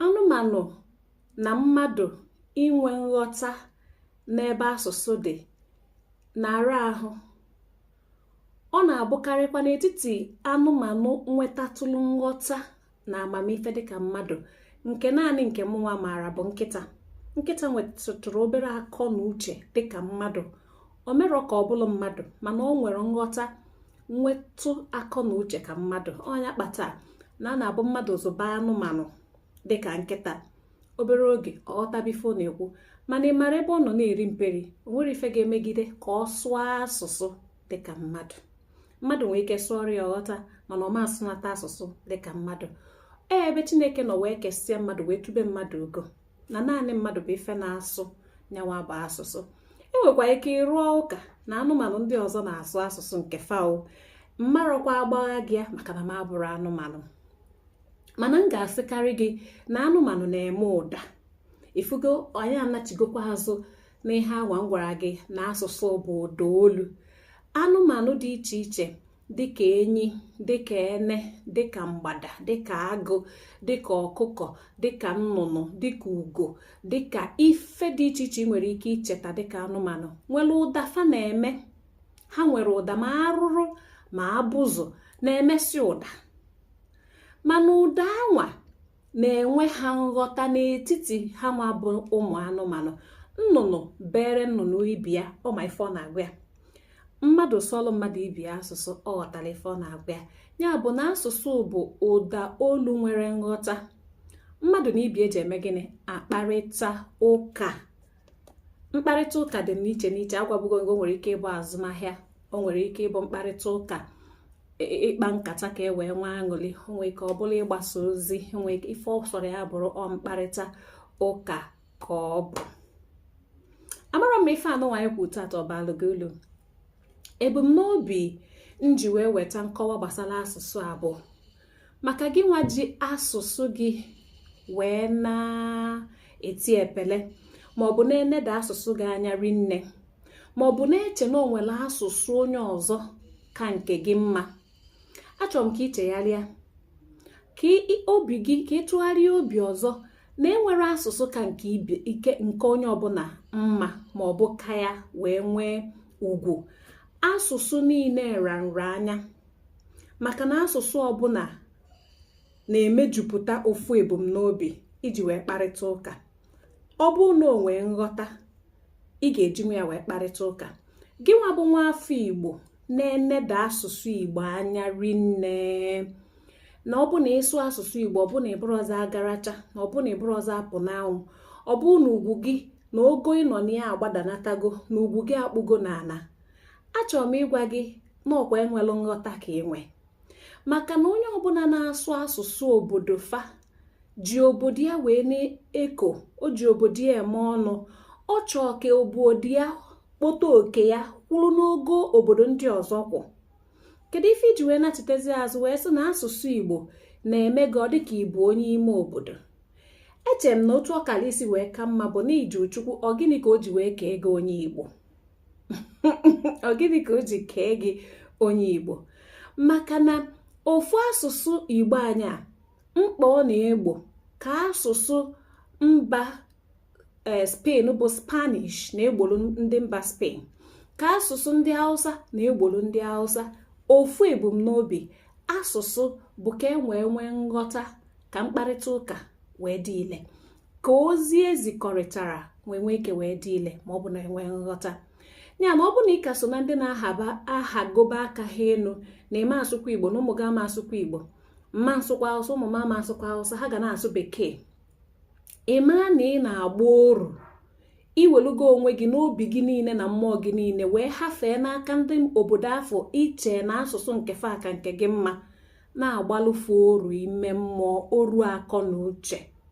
anụmanụ na mmadụ inwe nghọta n'ebe asụsụ dị na-ara ahụ ọ na-abụkarịkwa n'etiti anụmanụ nwetatụlụ nghọta na amamife dịka mmadụ nke naanị nke mụnwa maara bụ nkịta nkịta nwetụrụ obere akọ na uche dịka mmadụ o merọ ka ọ bụrụ mmadụ mana ọ nwere nghọta nwetụ akọ na uche ka mmadụ ọ nya kpata na ọ na-abụ mmadụ zụba anụmanụ dịka nkịta obere oge ọ ghọtaba ife ọ na-ekwu mana ị mara ebe ọ nọ na-eri mperi o nwerọ ife ga-emegide ka ọ sụọ asụsụ dịka mmadụ mmadụ nwee ike sụọrọ ya ọ ghọta mana ọ ma asụnata asụsụ dịka mmadụ ee ebe chineke nọ wee kesịa mmadụ wee tube mmadụ ugo na naanị mmadụ bụ ife na-asụ nyanwa bụ asụsụ i nwekwa ike ịrụ ụka na anụmanụ ndị ọzọ na-asụ asụsụ nke fa o m marọkwa agbagha gị ya maka na m abụrọ anụmanụ mana m ga-asịkarị gị na anụmanụ na-eme ụda ị fụgo anyị anachigokwa azụ n'ihe anwa m gwara gị na asụsụ bụ ụda olu anụmanụ dị iche iche dịka enyi dịka ene dịka mgbada dịka agụ dịka ọkụkọ dịka nnụnụ dịka ugo dịka ife dị iche iche i nwere ike icheta dịka anụmanụ nwere ụda fa na-eme ha nwere ụda ma arụrụ ma abụzụ na-emesị ụda mana ụda anwa na-enwe ha nghọta n'etiti hanwa bụ ụmụ anụmanụ nnụnụ beere nnụnụ ibe ya ọ ma ife ọ na-agwa ya mmadụ sụọlụ mmadụ ibe ya asụsụ ọ ghọtara ife ọ na-agwa ya ya bụ na asụsụ bụ ụda olu nwere nghọta mmadụ na ibe ya ji eme gịnị akparịta ụka mkparịta ụka dị n'iche n'iche agwabugo m gị o nwere ike ịbụ azụmahịa o nwere ike ịbụ mkparịta ụka e, e, ịkpa nkata ka e wee nwee aṅụli o nwere ike ọ bụlụ ịgbasa ozi o nwere ike ife ọ sọrọ ya bụrụ ọ mkparịta ụka ka ọ bụ amarọ m ma ife anyịnwa na-ekwu tata ọ balụ gị ulu ebumnobi m ji wee weta nkọwa gbasara asụsụ a bụ maka gị nwa ji asụsụ gị wee na-eti epele maọbụ na-eneda asụsụ gị anya rinne maọbụ na-eche na o nwere asụsụ onye ọzọ ka nke gị mma achọrọ m ka ị chegharịa ka obi gị ka ị tụgharịa obi ọzọ na enwerọ asụsụ ka nke onye ọbụla mma ma ọ bụ ka ya wee nwee ugwu asụsụ niile ra nra anya maka na asụsụ ọbụna na-emejupụta ofu ebumnobi iji wee kparịta ụka ọ bụrụ na o nwee nghọta ị ga-eji nwa ya wee kparịta ụka gị nwa bụ nwa afọ igbo na-eneda asụsụ igbo anya rinne na ọ bụ na ịsụ asụsụ igbo ọ bụ na ị bụrọzị agaracha na ọ bụ na ị bụrọzị apụnanwụ ọ bụ na ugwu gị na ogo ị nọ na ya agbadanatago na ugwu gị akpụgo n'ana achọrọ m ịgwa gị na ọ kwa enwelụ nghọta ka i nwe maka na onye ọbụna na-asụ asụsụ obodo fa ji obodo ya wee na-eko o ji obodo ya eme ọnụ ọ chọọ ka obodo ya kpọta oke ya kwụrụ n'ogo obodo ndị ọzọ kwụ kedu ife i ji wee nachitezi azụ wee sị na asụsụ igbo na-eme gị ọ dịka ị bụ onye ime obodo eche m na otu ọ kara isi wee ka mma bụ na ị jụọ chukwu ọ gịnị ka o ji wee kee gị onye igbo ọ gịnị ka o ji kee gị onye igbo maka na ofu asụsụ igbo anyị a mkpa ọ na-egbo ka asụsụ mba e, spain bụ spanish na-egboro ndị mba spain ka asụsụ ndị awụsa na-egbolu ndị awụsa ofu ebumnobi asụsụ bụ ka e wee nwee nghọta ka mkparịta ụka wee dị ile ka ozi e zikọrịtara wee nwee ike wee dị ile ma ọ bụ na e nwee nghọta ya na ọ bụ na ị ka so na ndị na-ahagoba aka ha elu na ị ma asụkwa igbo na ụmụ gị ama asụkwa igbo m ma asụkwa awụsa ụmụ m ama asụkwa awụsa ha ga na-asụ bekee ị maa na ị na-agba oru i welugo onwe gị na obi gị niile na mmụọ gị niile wee hafee n'aka ndị obodo afụ i che na asụsụ nke fa ka nke gị mma na-agbalụ fa oru ime mmụọ oru akọ na uche